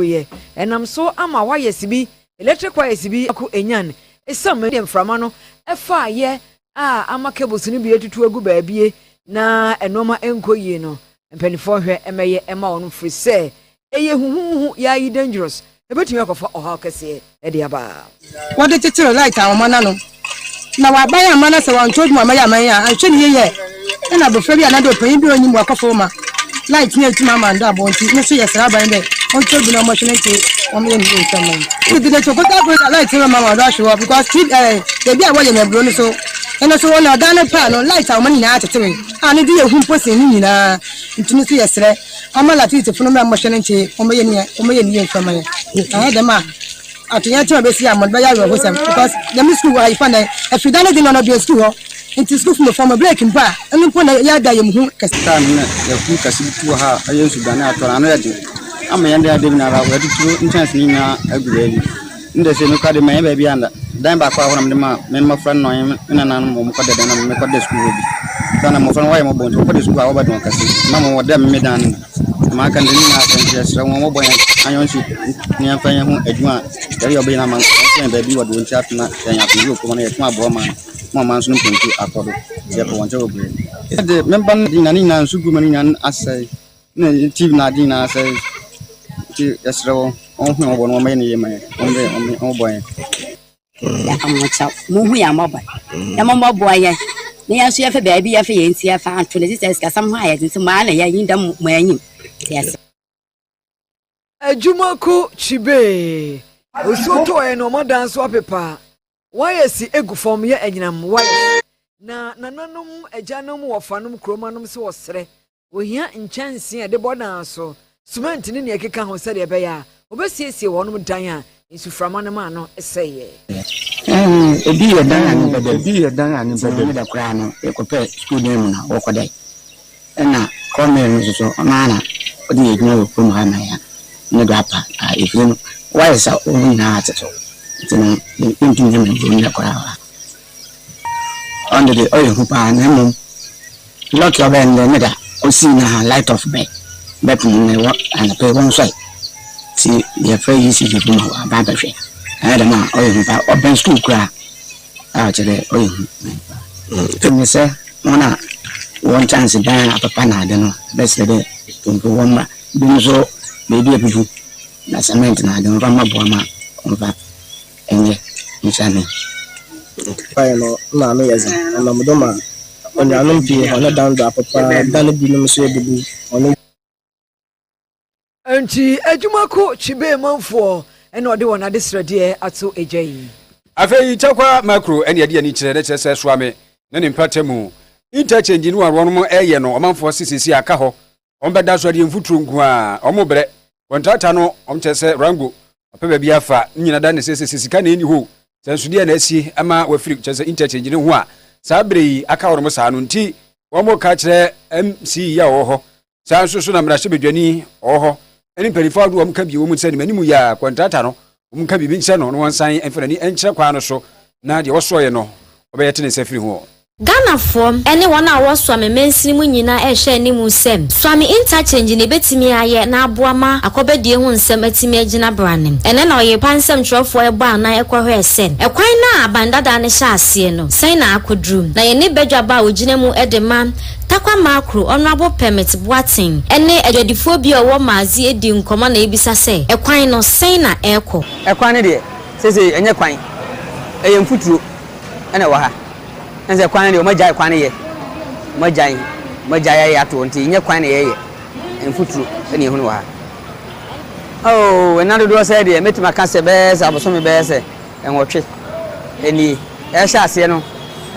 yɛ ɛnam so ama waya sibi, electric waya sibi ako enyan esiam ɛne deɛ mframa no ɛfa ayɛ a ama cables no bi atutu agu baabie na ɛnoɔma ɛnkɔ yie no mpanifoɔ hwɛ ɛmɛyɛ ɛma wɔn firi sɛ ɛyɛ huhuhu yɛ ayi dangerous ɛbɛtumi akɔfa ɔhaw kɛseɛ. de aba. Wɔde kyekyere light ahoma no ano, na wɔaban amma no sɛ wɔnto dwom amma yɛ aman a anhwɛ no yiye ɛ na abofra bi anaa dɛ ɔpanyin bi a ɔnnyim wakɔfow ma light no etum ama ndo abɔ ntsi no so yɛsera aban dɛ ɔnto dwom na ɔmmɔhwe no ntsi wɔmeyɛ no yiye nsɛm no. Tete de to kota koro dza light no bɛma wɔn do ahwe hɔ because ti ɛ beebi a wɔyɛ no aburow no so ɛno so wɔn na ɔdan no paa no light ahoma no nyinaa akyekyewe a ne de yɛ hu mpo sen ne nyinaa nti no so yɛsrɛ Ama Latytefo no mbrɛ wɔhwɛ no nkyɛn yi, wɔbɛyɛ ne yie, wɔbɛyɛ ne yie nso ama yɛn. Annyɛ dɛm a, atoyerɛnkyɛm a ebesi ama no bɛyɛ awerɛhosɛm because dɛm skuul wɔ ha yi fa ndɛ, efi da no dze no na ɔbɛn skuul hɔ. Ntsi skuulfo mbofra wɔma break mpo a, ɔno mpo na yɛ ada a yɛmmhu ho kɛse. Kaa no na yɛfuw kɛse bi too ha a ɔyɛ nsudan a atɔ no, ano yɛ dzen. Ama yɛn dan da nyinara wɔdze turo nkyɛnse no nyinaa agu beebi. Nda sei nokwar dɛ mennyɛ beebiara nnda. Dan baako a hɔ na mede ma me mbofra no na ɔnye me nananom hɔn kɔ da dɛm na mekɔ da skuul hɔ bi. Osiandɛ mbofra no wɔyɛ me bɔn ntsi wɔkɔ da skuul a wɔbɛda hɔn kɛse na mowɔ dɛ me dan no mu. Na maka no dɛm nyina asɛm nkyerɛ serɛ hɔn wɔbɔ hɛn ayɔnhyɛ na yɛmfa hɛn ho edwuma a yɛreyɛ ɔbɛyɛ no ama nkɔ. Wɔnnkɔ hɛn beebi wɔ do ntsi afei na yɛnye afɔr bi wɔ kurom a na yɛtum aboa ɔman no ma ɔman so no mpɔn tu akɔ do ntsi yɛkɔ hɔn nkyɛn wɔ beberee. Yɛdze me mba no dze nyina ne nyina nsu gu ma ne nyina asɛe. Na yɛ TV no ade nyinaa sɛe nti yɛsrɛ wɔn wɔnhu yɛn mmɔbɔ na wɔmmɛyɛ no yie mma yɛn wɔmmrɛ yɛn wɔn wɔmmɔ yɛn. yɛka mo kyɛw monhu yɛn mmɔbɔ na mommɔboa yɛn na yɛn nso yɛfɛ baabi yɛfɛ yɛn nti yɛfa anto ne sisɛ sikasɛm ho a yɛdze nti maa na yɛnyi dɛm mo anyim nti yɛsrɛ Adwuma ko kyibee. Osuo tɔɔɛ na ɔmo adan so apepa. Wires si gu fam yɛ anyinam wires. Na nananom, agyanom, wɔfanom, kuromanom nso wɔsrɛ. Wɔhia nkyɛnsee a ɛde bɔ dan so, sumɛnte ne nea ɛkeka ho sɛdeɛ ɛbɛyɛ a wɔbɛsiesie wɔnom dan a nsuframa no maa no sɛeɛ. Ebi yɛ dan a ne ba da mu. Sɛ wɔn ne da koraa no, yɛkɔpɛ sukuu dan mu na wɔkɔdae. Nna Cornel no so so, ɔnoara na ɔdze yɛ edwuma wɔ kurom ha ma hɛn, no do apa a efir no ɔayɛ dza hɔn nyina atsetse do, ntsi no yenntum nnyɛ mbrɛ mbrɛ ndɛ koraa a ɔno de ɔyɛ hu paa na mbom lucky ɔbɛyɛ ndɛ ne da osii na hɛn light off bɛ bɛpem no ewɔ anapa yi wɔnnsoɛr ntsi yɛfrɛ ECG fo ma wɔaba abɛhwɛ, ɔyɛ dɛm a ɔyɛ hu paa ɔbɛn skuul koraa. a ɔkyerɛ dɛ ɔyɛ hu. Emi sɛ hɔn a wɔwɔ nkyɛnse dan a papa na adze no bɛserɛ dɛ ntonto wɔ mma binom so beebi ebubu na cement na adze no wɔmfa mbɔboa ma wɔmfa nyɛ nhyiadzi. Kwan no nna ano yɛ dzen na ɔnam do ma enuanom pii hɔn dan do apapa, dan binom so ebubu, hɔn. Enti adwuma ko kyibee manfoɔ na ɔde wɔn adesrɛdeɛ ato agya yi. Afei Tarkwa Makro ne ɛde ani kyerɛ, na kyerɛ sɛ Suame ne ne mpatamu interchange no a wɔnom ɛɛyɛ no ɔmanfoɔ se sese aka hɔ wɔn bɛda so adeɛ mfuturo nko a wɔn brɛ kɔntrata no wɔn kyerɛ sɛ Rango ɔpɛ baabi afa ne nyina da ne sɛ sese sika na ɛni ho sɛ nso deɛ na asie ama wafiri kyerɛ sɛ interchange no ho a saa bere yi aka wɔnom saa no nti wɔn ka kyerɛ MCE a wɔwɔ hɔ saa nso so na mmarahyɛbadwani ɔwɔ hɔ ne mpanyinfoɔ ahodoɔ wɔn ka bi wɔn nsa nim anim yɛ a kɔntrata no wɔn ka biribi nkyerɛ no na wɔn nsan mfa n'ani nkyerɛ kwan no so na deɛ wɔsoɔyɛ no wɔbɛyɛ te ne nsa firi ho. Ghanafoɔ ne wɔn a wɔwɔ Suame mansini mu nyinaa rehwɛ anim sɛ Suame Interchange na ɛbɛtumi ayɛ na aboa ma akɔbɛdie ho nsɛm atumi agyina beranem. Ɛnnɛ na ɔyerepa nsɛmtwerɛfoɔ rebɔ anan rekɔhwɛɛ sɛ ɛkwan no a aban dadaa no hyɛ aseɛ no sɛn na akɔduru. Na yɛne badwabɔ a ɔgyina mu de ma Tarkwa Makro, Honourable Permit Boateng, ne adwadifoɔ bi a ɔwɔ Maazi redi nkɔmmɔ na yɛbisa sɛ, Ɛkwan no, sɛn na ɛrekɔ? Ɛkwan no deɛ, seesei ɛnyɛ kwan, ɛyɛ mfuturo na ɛwɔ ha. Ɛne sɛ kwan no deɛ wɔagyae kwan no yɛ, wɔagyae, wɔagyae ayɛ ato hɔ nti ɛnyɛ kwan na yɛreyɛ, mfuturo na yɛhunu wɔ ha. Oh, nna dodoɔ sɛɛ deɛ, mɛtumi aka sɛ bɛyɛ sɛ abosome bɛyɛ sɛ. Nwɔtwe nie ɛrehyɛ aseɛ no,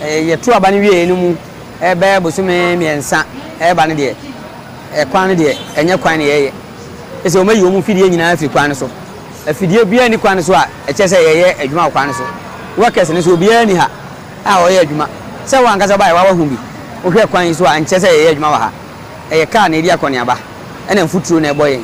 yɛto aba no wieɛ no mu bɛyɛ bosome mmiɛnsa ɛreba no deɛ, kwan no deɛ ɛnyɛ kwan na yɛyɛ. Ɛsɛ wɔayi wɔn mfidie nyinaa afiri kwan no so. Afidie biara nni kwan no so a ɛkyerɛ sɛ yɛyɛ adwuma wɔ kwan no so. Workers no nso obiara nni ha a ɔyɛ adwuma. Sɛ wo ankasa wobaeɛ a woahu bi, wohwɛ kwan yi so a nkyerɛ sɛ yɛyɛ adwuma wɔ ha. Ɛyɛ kaa na ɛredi akɔneaba ɛna mfuturo na ɛbɔ yɛn.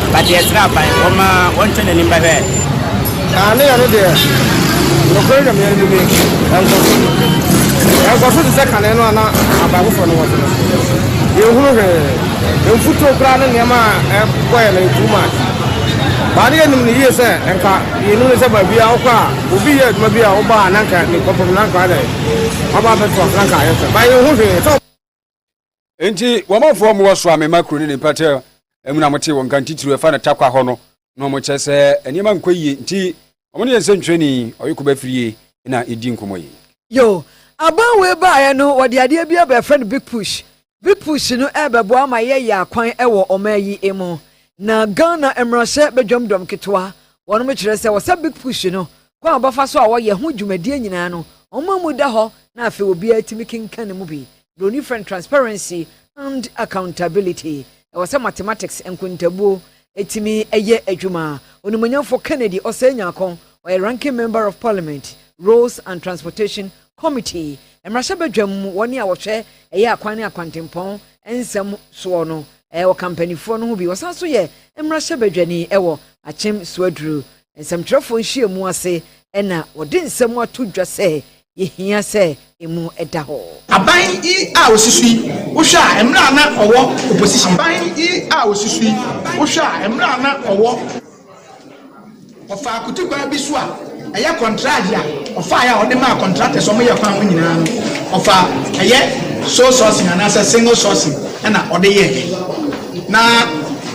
Ba deɛ tra aban, wɔma wɔntwɛ n'anim bɛhwɛ. Aane yɛ no deɛ, nokorɛ Nyame anim nie, ɛnkɔ so. Ɛnkɔ so te sɛ kane no a na aban foforɔ no wɔ so no. Yɛnhunu hwee, mfutuo koraa ne nneɛma a ɛbɔ yɛn no too much. Ba no yɛnim no yie sɛ nka yɛnim no sɛ baabiara a wokɔ a obi yɛ adwuma bi a woba a na nka nnipa pɔm na nka ɔyɛ dɛn? Waba abɛto ase na nka ayɛ fɛ. Ba yɛnhu hwee sɛ. nti wɔmanfoɔ mu wɔsoa me ma kuro ne ne mpɛtɛ mu na mote wɔ nka ntitiriw ɛfa no takwa hɔ no na wɔkyɛ sɛ nneɛma nkɔ yie nti wɔn ne yɛ nsɛntwerɛni ɔyeko bɛfirie na ɛdi nkɔmmɔ yi. Yo, aban wei baeɛ no wɔde adeɛ bi aba ɛfrɛ no big push. Big push no ɛrebɛboa ama yɛyɛ akwan wɔ ɔman yi mu. Na Ghana mmarahyɛ badwam dɔm ketewa wɔnom kyerɛ sɛ wɔsa big push no kwan a wɔbɛfa so a wɔyɛ ho dwumadie nyinaa no, wɔn mmamu da hɔ na afei obiara tumi kenkan ne mu bi. Buroni frɛ no transparency and accountability. Ɛwɔ sɛ mathematics, nkontabuo, tumi yɛ adwuma. Onimuonyamfo Kennedy Osei Nyarkon, ɔyɛ Ranking Member of Parliament, Roads and Transportation Committee, mmarahyɛbadwam mu wɔn a wɔhwɛ ɛyɛ akwan ne akwantempɔn nsɛm soɔ no, ɔka mpaninfoɔ no ho bi. Ɔsan nso yɛ mmarahyɛbadwani wɔ Akyem Suaduru nsɛmtwerɛfoɔ nhyiamu ase na wɔde nsɛm ato dwa sɛ yɛhia sɛ emu da hɔ. Aban yi a osi so yi, wohwɛ a mmerɛ a na ɔwɔ opposition. Aban yi a osi so yi, wohwɛ a mmerɛ a na ɔwɔ. Ɔfaa kutukwaa bi so a ɛyɛ kɔntraagye a ɔfaeɛ a ɔde maa contractors a wɔyɛ kwan ho nyinaa no, ɔfaa ɛyɛ sole sourcing anaasɛ single sourcing na ɔde yɛeɛ. Na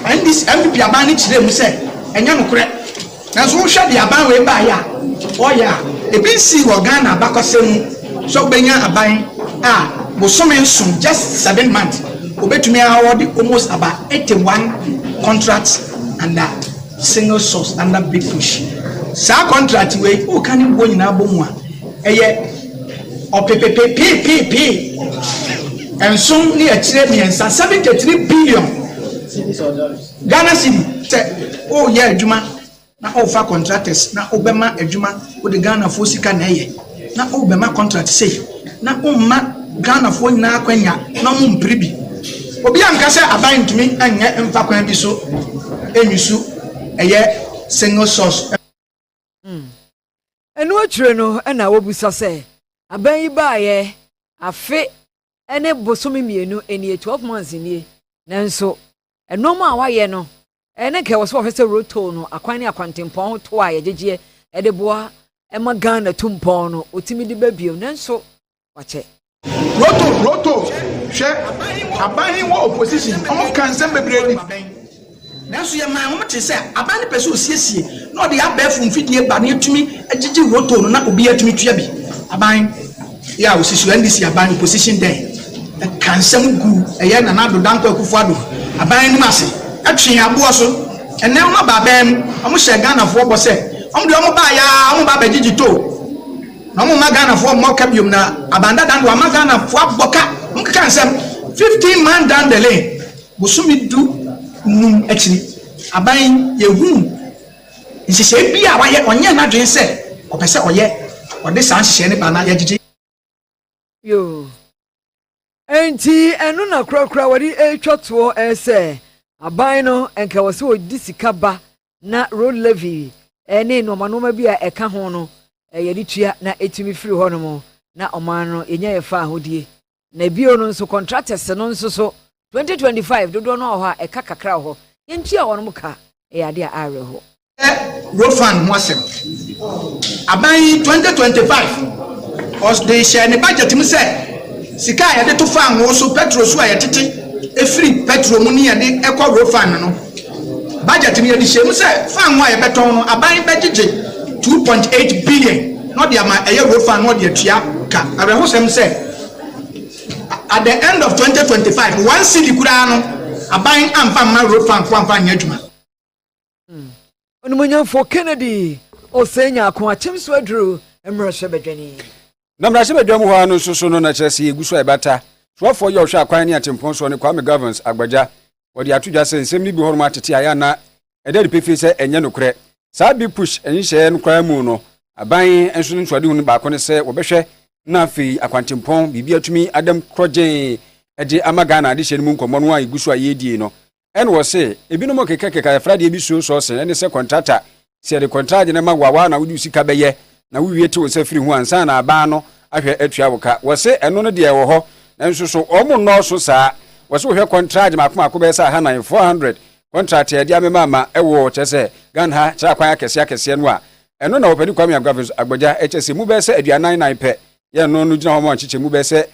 NDC, NPP aban no kyerɛɛ mu sɛ. Ɛnyɛ nokorɛ. Nanso wohwɛ deɛ aban wei baeɛ a ɔyɛ a, ebi nsii wɔ Ghana abakɔsɛm mu sɛ wobɛnya aban a bosome nson, just seven months, wɔbɛtumi award almost about eighty one contracts under single source under big push. Saa contract wei woka ne boɔ nyinaa bɔ mu a ɛyɛ ɔpepepepeepee nson ne akyire mmiɛnsa, seventy three billion. Ghana cedi sɛ woyɛ adwuma na wofa contractors na wobɛma adwuma wode Ghana foɔ sika na ɛyɛ na wobɛma contract sei na womma Ghana foɔ nyinaa akwanya na wɔn mpere bi obi anka sɛ aban ntumi nyɛ mfa kwan bi so nyusu ɛyɛ single source Ɛno akyire no na wobisa sɛ aban yi baeɛ afe ne bosome mmienu nie, twelve months nie, nanso nnoɔma a wayɛ no ɛɛ na nka ɛwɔ sɛ wɔhwɛ sɛ roto no akwan ne akwantempɔn ho to a yɛgyegyeɛ ɛde boa ɛma Ghana tu mpɔn no ɔtumi de ba bio nanso wakyɛ. Roto, roto, hwɛ, aban he wɔ opposition, ɔmo ka nsɛm bebree di. Nanso yɛmaa wɔn tee sɛ aban no pɛ sɛ osiesie na ɔde abɛɛfo mfidie ba na yɛtumi gyegye rotor no na obiara tumi tua bi. Aban yi a ɔsi so, NDC aban, opposition dɛn, ɛkaa nsɛm guu ɛyɛ Nana Addo Dankwa Akufo-Addo aban no mu ase, twee aboɔ so. Ɛnnɛ wɔaba aban mu, wɔhyɛɛ Ghanafoɔ bɔ sɛ wɔn deɛ wɔbaeɛ ara wɔba abɛgyegye toll na wɔmma Ghanafoɔ mmɔ ka biom na aban dada no deɛ wɔama Ghanafoɔ abɔ ka, wɔkeka nsɛm, 15 man down the lane. Bosome du nnum akyiri aban yi, yɛhuu nhyehyɛe bi a wayɛ, ɔnyɛɛ n'adwene sɛ ɔpɛ sɛ ɔyɛ, ɔde saa nhyehyɛe no baa na yɛgyegye. Yoo. Enti ɛno na korakora wɔde retwa toɔ ɛɛ sɛ aban no nka ɛwɔ sɛ wɔde sika ba na road levy ne nnoɔma nnoɔma bi a ɛka ho no yɛde tua na ɛtumi firi hɔnom na ɔman no yɛnya yɛn faahodie Na bio no nso contractors no nso so 2025 dodoɔ no wɔ hɔ a ɛka kakra wɔ hɔ yɛntua wɔnom ka ɛyɛ adeɛ a awerɛhoɔ. Yɛ road fund ho asɛm. Aban yi 2025 ɔs de hyɛɛ ne budget mu sɛ sika a yɛde to fangoo so petrol so a yɛtete firi petrol mu ne yɛde kɔ road fund no Budget no yɛde hyɛɛ mu sɛ faanoo a yɛbɛtɔn no aban bɛgyegye two point eight billion na ɔde ama ɛyɛ road fund na ɔde atua ka. Awerɛhosɛm sɛ at the end of twenty twenty five one cedi koraa no aban amfa mma road fund fo amfa anyɛ adwuma. Onimuonyamfo Kennedy Osei Nyarko akyem so aduru mmarahyɛbadwani. Na mmarahyɛbadwa mu hɔ ara no nso so no, na kyerɛ sɛ yɛgu so a ɛbata. Soafoɔ yi a ɔhwɛ akwan ne atempɔn soɔ ne Kwame Governs Agbagya. Ɔde ato dwa sɛ nsɛm no bi wɔ hɔnom a tete ayɛ a na ɛda adi pefee sɛ ɛnyɛ nokorɛ. Saa big push nhyehyɛeɛ no koraa mu no, aban nso no nsuadehu no baako ne sɛ wɔbɛhwɛ na afei akwantempɔn biribi atumi ada mu korɔgyeen de ama Ghana adehyeɛ no mu nkɔmmɔ no a ɛgu so a yɛredie no Ɛna wɔse, ebinom kekakeka yɛfra deɛ bi suo sɔɔsen, ɛne sɛ kɔntrata, sɛ yɛde kɔntragye no ma wo a, woa na wode wo sika bɛyɛ, na wowie te wo nsa firi ho ansa na aban no ahwɛ atua wo ka. Wɔse ɛno no deɛ ɛwɔ hɔ, nanso so wɔn nnɔɔso saa? Wɔse wohwɛ kɔntragye mmaako mmaako bɛyɛ sɛ ahanan, 400, kɔntrat a yɛde amema ama wɔ, kyerɛ sɛ, Ghana ha kyerɛ akwan akɛseɛ akɛseɛ no a, ɛno na Ɔpanin Kwame Agbavins Agbagya kyerɛ sɛ mu bɛyɛ sɛ aduanan nan pɛ, yɛn no no gyina hɔ ma nkyekyɛmu bɛyɛ sɛ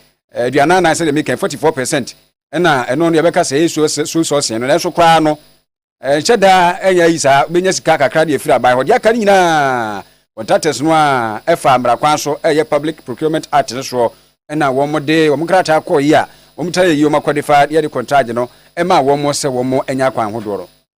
aduanan nan sɛdeɛ meka yi, 44 percent, ɛna ɛno no yɛbɛka sɛ ɛyɛ so sɔsee no nanso koraa no ɛnhyɛ daa ɛnyɛ ayi saa bɛnya sika kakra de afiri aban hɔ deɛ aka no nyinaa contractors no a ɛfa mmara kwan so ɛyɛ public procurement act no soɔ ɛna wɔn de wɔn krataa kɔɔ yi a wɔn tra yɛ yi wɔn akɔde fa yɛde contract no ɛma wɔn sɛ wɔn anya akwan hodoɔ no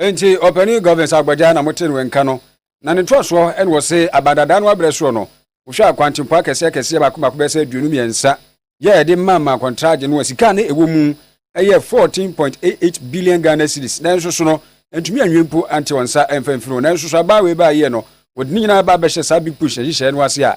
Enti ɔpanin Govins Agbagya na motee no nka no, na ne ntoasoɔ na wɔ se aban dada no abrɛ soɔ no, wohwɛ a kwantempɔn akɛseɛ akɛseɛ baako baako bɛyɛ sɛ aduonu mmiɛnsa yɛ ɛde maa maa kɔntragye no a sika a na ɛwɔ mu yɛ 14.88 billion Ghana cedis nanso so no antumi anwie mpo ante wɔn nsa mfa mfiri ho nanso so abaa wei baa yie no wɔde ne nyinaa ba abɛhyɛ saa big push nhyehyɛe no ase a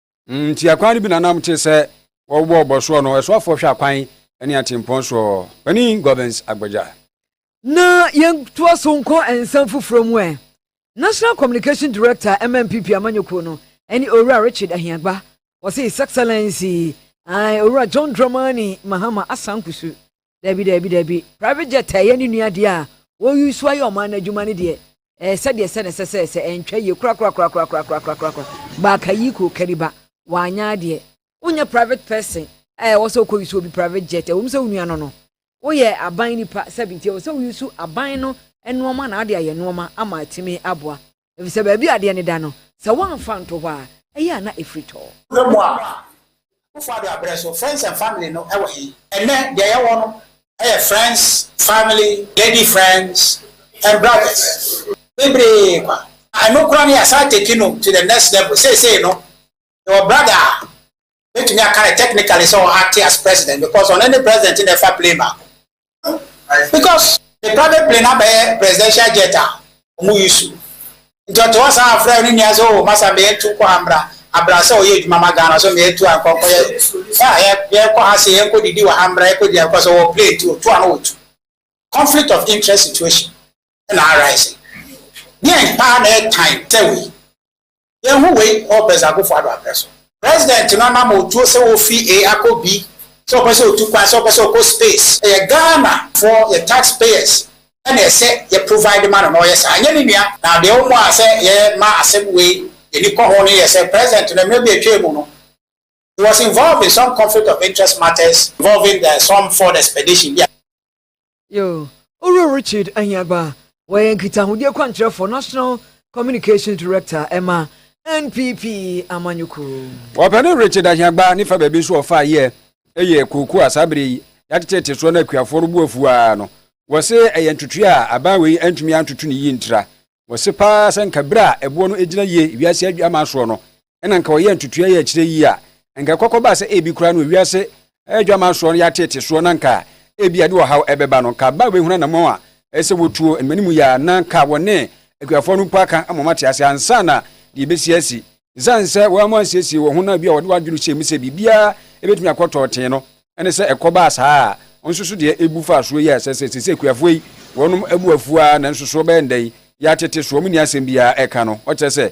Nti akwan no bi nanam te sɛ wɔbɔ ɔbɔ soɔ no, ɛsoafoɔ hwɛ akwan ne atempɔn soɔ. Panin Gorbens Agbagya. Na yɛntoa so nkɔ nsɛm foforɔ mu ɛ. National Communication Director ma NPP amanyɔkuo no ne Owura Richard Ahiagba, wɔse His Excellency, ae, Owura John Dramani Mahama Asan Kusu, Dabi dabi dabi private jet a ɛyɛ ne nua deɛ a wɔyi so ayɛ ɔman no adwuma no deɛ ɛɛ sɛdeɛ sɛ na ɛsɛ sɛ sɛ ɛntwa yie korakorakorakorakorakorakorakorakora baaka yi kuro kari ba wanyɛ adeɛ wonyɛ private person a ɛwɔ sɛ wokɔ yi so obi private jet ɛwɔ mu sɛ wo nua no no woyɛ aban nipa sɛbi nti ɛwɔ sɛ woyi so aban no nnoɔma na ade ayɛ nnoɔma ama atumi aboa efisɛ baabi a adeɛ no da no, sɛ woamfa nto hɔ a, ɛyɛ a na ɛfiri tɔ. Berɛ mu aba. Akufo-Addo abrɛ so, Friends and Family no wɔ he? Ɛnnɛ, deɛ yɛwɔ no yɛ friends, family, lady friends and brothers bebree kwa. Na ɛno koraa no yɛasan take no to the next level. Seesei no, yɛwɔ brother a Mɛtumi aka no technically sɛ ɔha te as president because ɔno ne president na ɛfa plane baako because ne private plane abɛyɛ presidential jet a ɔmo yi so nti ɔte hɔ saa afrɛ ne nua sɛ o masa meyɛ tu kɔ ha mbra abra sɛ ɔyɛ adwuma ma Ghana so meyɛ tu ankɔ kɔ yɛ yɛkɔ ha se yɛnkɔ didi wɔ ha mbra yɛkɔ di akɔ sɛ wɔ plane ti otu ano otu conflict of interest situation na arise deɛn paa na ɛtan tɛwei Yɛnhu wei wɔ President Akuffo Addo abrɛ so. President no anam a otuo sɛ ofi A akɔ B, sɛ ɔpɛ sɛ otu kwan, sɛ ɔpɛ sɛ ɔkɔ space, ɛyɛ Ghana foɔ, yɛ tax payers, na ɛsɛ yɛ provide ma no na ɔyɛ saa, ɛnyɛ ne nua. Na deɛ ɔmo a sɛ yɛ ma asɛm wei yɛ ni kɔ ho no yɛ sɛ President no mmerɛ bi a ɛtwaa mu no, he was involved in some conflict of interest matters involving the some foreign expedition bi a. Yoo, Owura Richard Ahiagbah, wɔyɛ nkitahodi akwankyerɛfoɔ, National Communications Director, ɛma NPP amanyɔkuo. Ɔpɛni Richard Ahiagbah ne fa baabi nso a ɔfaa yɛ yɛ kooko a saa bere yi yɛateteete soɔ na akuafoɔ no bo afu ara no. Wɔse ɛyɛ ntotoeɛ a aban wei antumi antoto ne yie ntira. Wɔse paa sɛ nka bere a ɛboɔ no gyina yie wiase adwamma soɔ no, ɛna nka ɔyɛ ntutua yɛ akyire yi a, nka ɛkɔkɔ baa sɛ ebi koraa no wiase adwaman soɔ no yɛateete soɔ na nka ebi a ɛde ɔhaw ɛbɛba no, nka ba bɛhunu anamɔn a ɛsɛ sɛ wɔtuo ne m'anim yi a na nka wɔne akuafoɔ no mpo aka ama wɔn ate aseɛ ansa na deɛ ɛbɛsi asi. Ɛsiane sɛ wɔammu ansiesie wɔn ho na ebi a wɔde wɔn adwene hyɛɛ mu sɛ biribiara ɛbɛtumi akɔ tɔɔtee no, ɛne sɛ ɛkɔ baa saa a, nso so deɛ ɛbu faa soɔ yi a ɛsɛ sɛ seesei akuafoɔ yi wɔnom abu afuo ara nanso so wɔbɛyɛ no dɛn yɛatete so, wɔnni asɛm biara ɛka no, ɔkyerɛ sɛ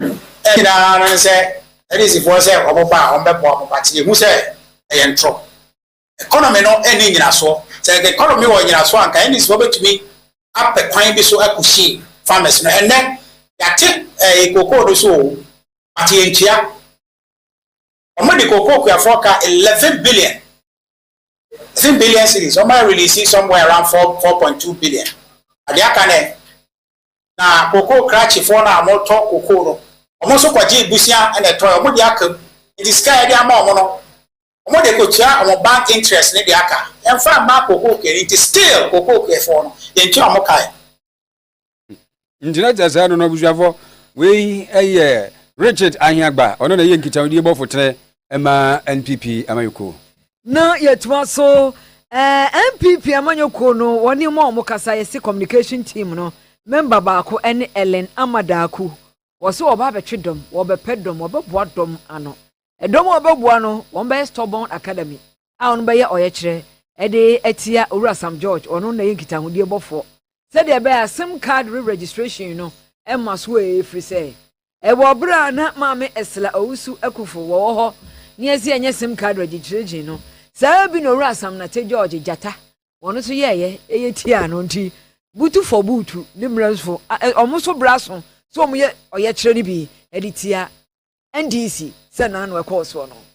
Ɛyɛ nyinaa no ne sɛ Phariseefoɔ sɛ wɔn ba a wɔbɛboa mo but yɛhu sɛ ɛyɛ ntorɔ. Economy no ɛnni nnyinasoɔ. Sɛ anka economy wɔ nnyinasoɔ anka NEC wɔbɛtumi apɛ kwan bi so akushi farmers no. Ɛnnɛ yɛate ɛɛ cocoa no so oo but yɛntua. Wɔde cocoa kuafoɔ ka eleven billion, eleven billion cedis wɔn a release somewhere around four, four point two billion. Na deɛ aka no ɛ? na kokoo krakyefoɔ no a wɔtɔ kokoo no, wɔn nso kɔgyee bosea na ɛtɔeɛ, wɔde aka mu. Enti sika a yɛde ama wɔn no, wɔde kɔtua wɔn bank interest no de aka. Yɛmfa mma kokoo kuo no, nti still kokoo kuofoɔ no, yɛntua wɔn kae. Nti na kyerɛ sɛ ɛno no, abusuafoɔ, wei yɛ Richard Ahiagba, ɔno na ɛyɛ nkitahodie bɔfo tene ma NPP amanyɔkuo. na yɛtoa so ɛɛ npp amanyɔkuo no wɔn ne mu a wɔkasa yɛsi communication team no member baako ɛne ellen amadaaku wɔso wɔba abɛtwe dɔm wɔbɛpɛ dɔm wɔbɛboa dɔm ano ɛdɔm a wɔbɛboa no wɔn bɛyɛ stubborn academy a wɔn bɛyɛ ɔyɛkyerɛ ɛde atia owura sam george ɔno na yɛ nkitahodie bɔfoɔ sɛdeɛ ɛbɛyɛ a sim card re registration no ɛma so ɛfiri sɛ Wɔ ber a nna Maame Estela Owusu-Ekufo wɔwɔ hɔ ne Adzia Nyesim Kadra dzi dwerdzi no, saa bi na Owura Sam Nate George, Gyata, hɔn so yɛeɛ, eye tsiaa no ntsi, Butufo Buutu ne Mbrasufo a hɔn so bra sõ sɛ wɔyɛ ɔyɛkyerɛ no bi dze tsia NDC sɛ nã na ɔkɔɔ soɔ no.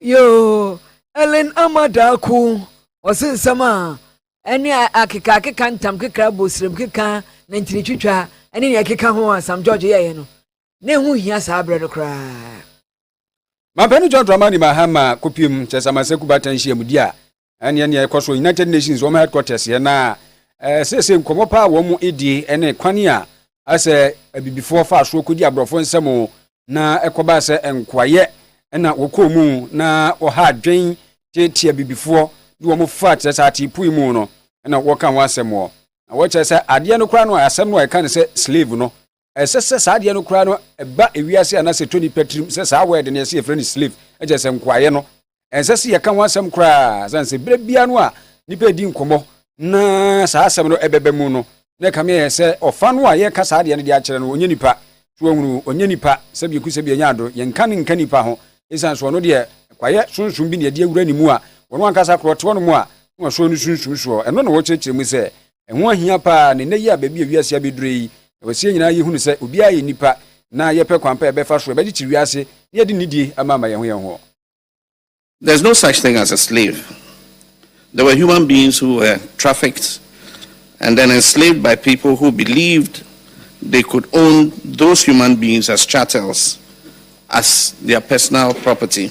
yoo ellen ama daa ko ɔse nsɛm a ɛne akeka akeka ntam keka abosirem keka na ntini twitwa ɛne nea ɛkeka ho a sam george yɛeɛ no na ɛho hia saa berɛ no koraa mampɛno john dramani mahama kopim kyɛ sɛ amansakuba ta nhyiamudi a ɛne ɛne ɛkɔ so united nations wɔn headquarters yɛ na ɛɛ sese nkɔmɔ paa wɔn mu edie ɛne kwan a asɛ abibifoɔ fa so kɔdi aborɔfo nsɛm na ɛkɔbaa sɛ nkoayɛ ɛna wɔkɔɔ mu na wɔha adwen teetea abibifoɔ de wɔn fa kyerɛ sɛ atepui mu no ɛna wɔka ho asɛm wɔ na wɔkyerɛ sɛ adeɛ no koraa no a asɛm no a ɛka ne sɛ slave no Ɛsɛ sɛ saa adeɛ no koraa no ba wiase anaasɛ ɛtɔ nnipa tirim sɛ saa word no yɛsɛ yɛfrɛ no slave, ɛkyerɛ sɛ nkoayɛ no. Ɛnsɛ sɛ yɛka ho asɛm koraa sane sɛ berɛ biara no a nnipa redi nkɔmmɔ na saa asɛm no ɛbɛba mu no na ɛkame ayɛ sɛ ɔfa no a yɛreka saa adeɛ no de akyerɛ no ɔnyɛ nipa. So wahunu? Ɔnyɛ nipa. Sɛbi ɛku sɛbi ɛnyɛ ado. Yɛnka no nka nipa ho ɛsiane sɛ ɔno deɛ kwaeɛ sonsom bi na ɛde awura ne mu a ɔno ankasa koraa ɔte hɔnom a na wasɔ ne sunsum soɔ. Ɛno na wɔkyerɛkyerɛ mu sɛ Ɛho ahia paa, na nnɛ yi a baabi a wiase abedure yi, ɛwɔ sɛ yɛn nyinaa yi hunu sɛ obiara yɛ nipa na yɛpɛ kwan pa a yɛbɛfa so a yɛbɛgye kye wiase na yɛde nidie ama ama yɛn ho yɛn ho. There is no such thing as a slave. There were human beings who were trafficked and then enslaved by people who believed they could own those human beings as chattels, as their personal property.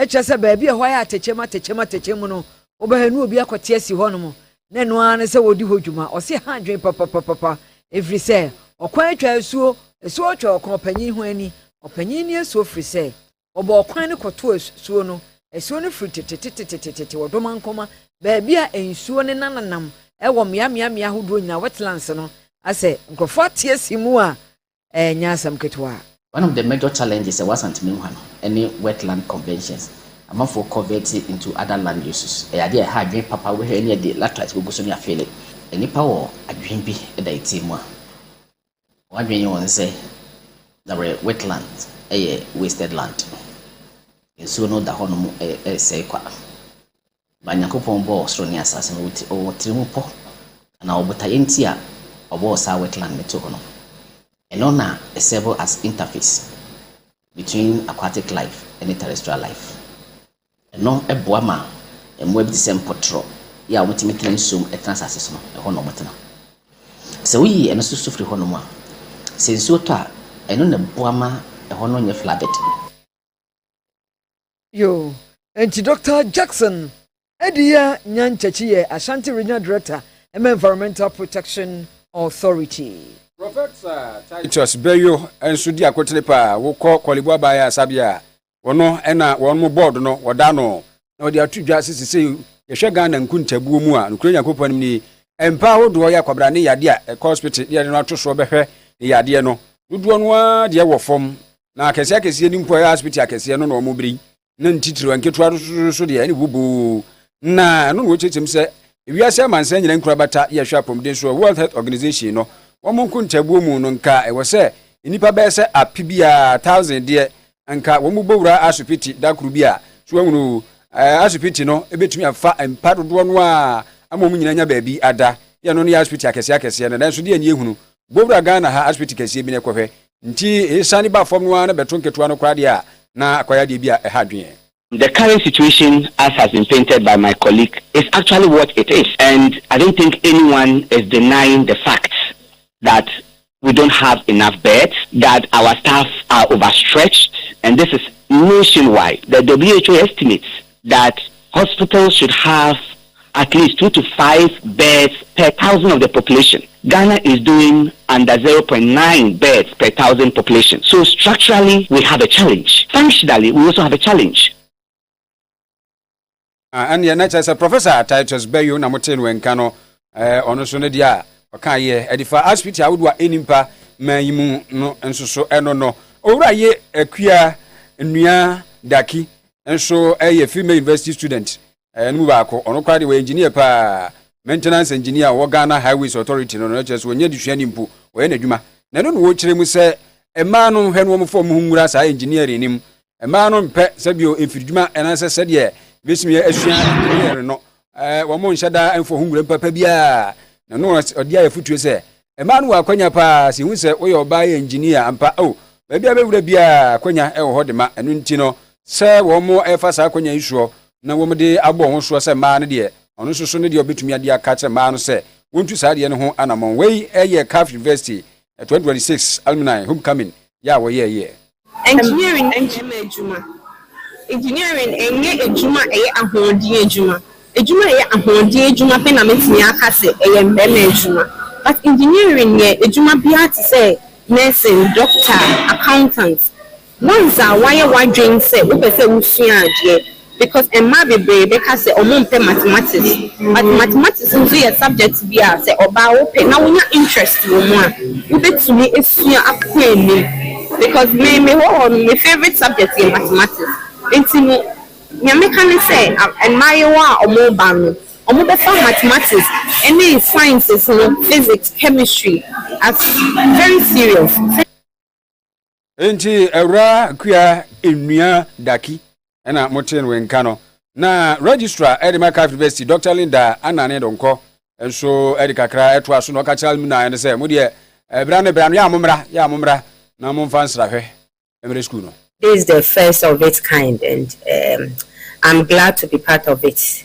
Ɛkyerɛ sɛ baabi a ɛhɔ ayɛ atɛkyɛm atɛkyɛm atɛkyɛm mu no, wobɛhwɛ na obi akɔte asi hɔnom, na ɛno ara ne sɛ wɔredi hɔ dwuma. Ɔse ha adwene papapapapa, ɛfiri sɛ ɔkwan atwa asuo, asuo atwa ɔkwan, ɔpanyin ho ani, ɔpanyin ni asuo firi sɛ wɔbɔ ɔkwan no kɔto asuo no, asuo no firi tetetetetetete wɔ Domankoma, baabi a nsuo nenananam wɔ mmeameammea ahodoɔ nyinaa, wetlands no, asɛ nkurɔfoɔ ate asi mu a Ɛnyɛ asɛm ketewa. One of the major challenges ɛwɔ Asanteme Nhwa no ne wetland conventions, amanfoɔ convert into other land uses. Ɛyɛ adeɛ a ɛha adwene papa, wobɛhwɛ ɛne yɛde latrite bɛgu so ne afeele. Nnipa wɔ adwene bi da yɛtie mu a, wɔn adwene yɛ wɔn sɛ dawere wetland yɛ wasted land, nsuo no da hɔ nom sɛe kwa. Ba Nyankopɔn bɔɔ ɔsoro ne asase no wɔ tirimupɔ na wɔ botaeɛ nti a ɔbɔɔ saa wet land no too hɔ no. Ɛno na ɛsɛɛbo as interface between aquatic life ne terrestrial life. Ɛno boa ma mmoa bi te sɛ mpɔtorɔ yi a wɔtumi tena nsuo mu tena asase so no, ɛhɔ na wɔtena. Sɛ woyi ɛno so so firi hɔnom a, sɛ nsuo tɔ a, ɛno na ɛboa ma ɛhɔ no nyɛ flooded. Yo, enti Dɔkta Jackson Adiya Nyantakyi yɛ Ashanti Regional Director ma Environmental Protection Authority. Prɔfɛsa Titus Bayo nso di akotene pa a wokɔ Korle-Bu Abaya Sabea a ɔno na wɔn mo board no wɔda ano na wɔde ato dwa sɛ sesei yɛhwɛ Ghana nkuntabuo mu a nokorɛ Nyankopɔn anim nie mpa ahodoɔ yɛ akwabra ne yadeɛ a ɛkɔ hospital ne yɛde no ato soɔ bɛhwɛ ne yadeɛ no dodoɔ no ara deɛ ɛwɔ fam na akɛseɛ akɛseɛ ni mpo ɛyɛ asopiti akɛseɛ no na wɔn bere yi na ntitiriw nketewa nso deɛ ɛne woboo na ɛno na wɔkyerɛkyerɛm sɛ ewiase amansan nyinaa nkorabata yɛ hwɛ apɔmuden so a World Health Organization no wɔn nkontaabuo mu no nka ɛwɔ sɛ nnipa bɛyɛ sɛ ape bi a thousand deɛ nka wɔn bɔ wura asopiti da koro bi a so ahunu eh, asopiti no ebetumi afa mpa dodoɔ no a ama wɔn nyinaa nya baabi ada yɛ no no yɛ asopiti akɛseɛ akɛseɛ no nanso deɛ ani ehunu bowura Ghana ha asopiti kɛseɛ bi na ɛkɔhwɛ nti ɛsane ba fam no ara na bɛto nketewa no koraa deɛ a na akɔyɛ adeɛ bi a ɛha adwene. The current situation as has been painted by my colleague is actually what it is and I don't think anyone is denying the fact that we don't have enough beds, that our staff are overstretched and this is nationwide, the who estimates that hospitals should have at least two to five beds per thousand of the population, Ghana is doing under zero point nine beds per thousand population so structurally we have a challenge, functionally we also have a challenge. Ah, ɛneɛ na kyerɛ sɛ Professor Titus Bayo na motee no nka no, ɔno nso no deɛ a ɔka yɛ ɛde fa asipiti ahodoɔ a ɛni mpa ma yi mu no nso so ɛno no. Owura ye akua nnua daki nso yɛ female university student eh, no mu baako ɔno koraa deɛ wɔyɛ engineer paa maintenance engineer ɔwɔ ghana highways authority no no kyerɛ sɛ wɔnyɛ desuani mpo wɔyɛ n'adwuma na ɛno na wɔkyerɛ mu sɛ mmaa no hwɛ no wɔn fam ho nwura saa engineering no mu mmaa no mpɛ sɛ bio mfiridwuma ɛnansɛ sɛdeɛ bɛsumi asua engineering no eh, wɔn nhyɛ da mfɔ ho nwura mpapa biara na no ɔde ayɛ fotuo sɛ Ɛma no wɔ akwanya paa sɛ ehu sɛ woyɛ ɔbaa yɛ engineer ampa oh. Baabi a bɛwura biara akwanya wɔ hɔ dema, ɛno nti no sɛ wɔn ɛfa saa akwanya yi soɔ na wɔn de abɔ wɔn ho soɔ sɛ mmaa no deɛ ɔno nso so ne deɛ ɔbɛtumi ade aka akyerɛ mmaa no sɛ wɔntu saa adeɛ no ho anamɔn. Wei yɛ Caf University 2026 Alumni Homecoming yɛ a wɔyɛɛyeɛ. Engineering ne mmarima adwuma. Engineering nyɛ adwuma a ɛyɛ ahoɔden adwuma. Adwuma a ɛyɛ ahoɔden adwuma pɛ na mɛtumi aka sɛ ɛyɛ mmarima adwuma. But engineering yɛ adwuma bi ara te sɛ nursing, doctor, accountant. Once a woayɛ w'adwene sɛ wopɛ sɛ wosua adeɛ Because mmaa bebree bɛka sɛ ɔmo mpɛ mathematics but mathematics nso yɛ subject bi a sɛ ɔbaa wopɛ na wonya interest wɔ mu a wobɛtumi asua akɔ anim because me me hɔ hɔ no me favourite subject yɛ mathematics nti no nea mɛka ne sɛ mmaayewa a ɔmo ba no ɔmo bɛfa mathematics ɛne sciences no physics chemistry as very serious. Enti Awuraa Kua Nnua Daki na motee no nka no. Na Registrar de ma Kafiri Bɛsi Dɔkta Linda Anane Donkɔ nso de kakra toa so na ɔka kyerɛ alumni no sɛ mo deɛ bra no bra no yɛ a mommra, yɛ a mommra na momfa nsrahwɛ mmrɛ sukuu no. This is the first of its kind and um I'm glad to be part of it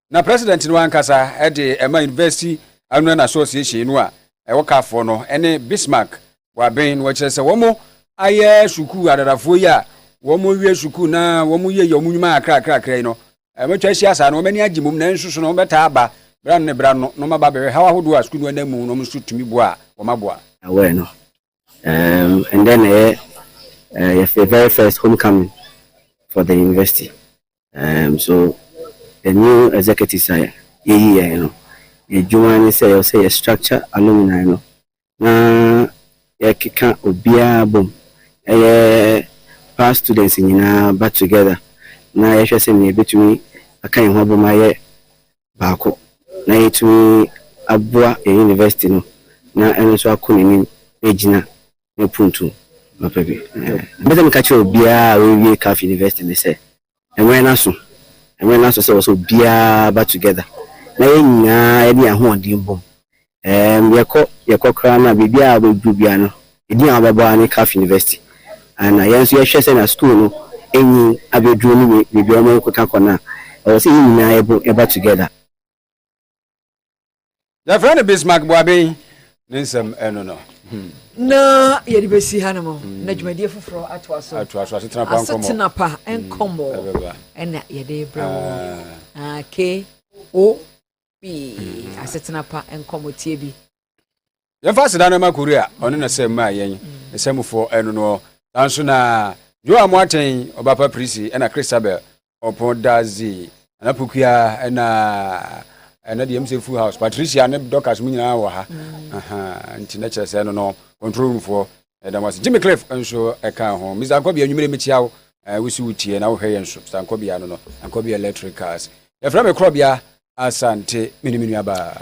Na President no ankasa de ɛma University Alumni Association no a ɛwɔ Carrefour no ne Bismarck wɔ aben no kyerɛ sɛ wɔn ayɛ sukuu adadafoɔ yi a wɔn wie sukuu na wɔn yɛ yɛ wɔn nnwuma akrakrakra yi no wɔn atwa ahyia saa no wɔn ani agye mom na nso so no wɔn bɛtaa aba bra no ne bra no na wɔn aba bɛhwɛ haw ahodoɔ a sukuu no anam mu na wɔn nso tumi boa a wɔn aboa. Aware no um, ɛndɛ na ɛyɛ uh, yɛ very first homecoming for the university. Um, so the new executives a yɛyi yɛn no, yɛdwuma ne sɛ yɛwɔ sɛ yɛ structure alumni no na yɛkeka obiara bom, ɛyɛ past students nyinaa ba together na yɛhwɛ sɛ nea ebetumi aka yɛn ho abom ayɛ baako na yɛtumi aboa yɛn university no na ɛno nso akɔ n'anim agyina ne opuntu papa bi. Mepɛ sɛ meka kyerɛ obiara a wawie Calf University no sɛ, ɛwɛn no aso, ɛwɛn no aso sɛ ɛwɔ sɛ obiara ba together na yɛn nyinaa yɛde yɛn ahoɔden bom. Ɛɛm, yɛkɔ, yɛkɔ koraa no a, biribiara a wobɛduru biara no, edin a wobɛbɔ ara ne Calf University. Ana yɛn nso yɛhwɛ sɛnea school no anyin abɛduru ne baabi a wɔkeka kɔ no a, ɛwɔ sɛ yɛn nyinaa yɛbom, yɛba together. yɛfrɛ no bismark boaben ne nsɛm ɛno no hmm. na yɛde bɛsi ha no mu hmm. na dwumadie foforɔ atoa so atoa so asetena pa nkɔmmɔ asetena pa hmm. nkɔmmɔ ɛna yɛde brɛ wɔ ah. ah, ko bi asetena pa nkɔmmɔ tie bi Yɛmfa aseda no mma Kore a ɔne n'asɛm maa yɛn nsɛmfoɔ ɛno noɔ. Saa nso na Joa Moateng, Ɔbapa Prisi ɛna Christabel Ɔpɔn Dadzi, Nana Pokua ɛna ɛna deɛ ɛmu sɛ Full House, Patricia ne Dorcas mu nyinaa wɔ ha. Ahaa, nti na kyerɛ sɛ ɛno no control room foɔ ɛda mo ase. Jimmy Cliff nso ɛka ho. Mr. Ankɔbea, anwummere mekyia wo, eh, wosi wo tie na wohwɛ yɛn nso. Mr. Ankɔbea no no, Ankɔbea Electricals. Yɛfrɛ me Korɔbea Asante, me ne me nuabaa.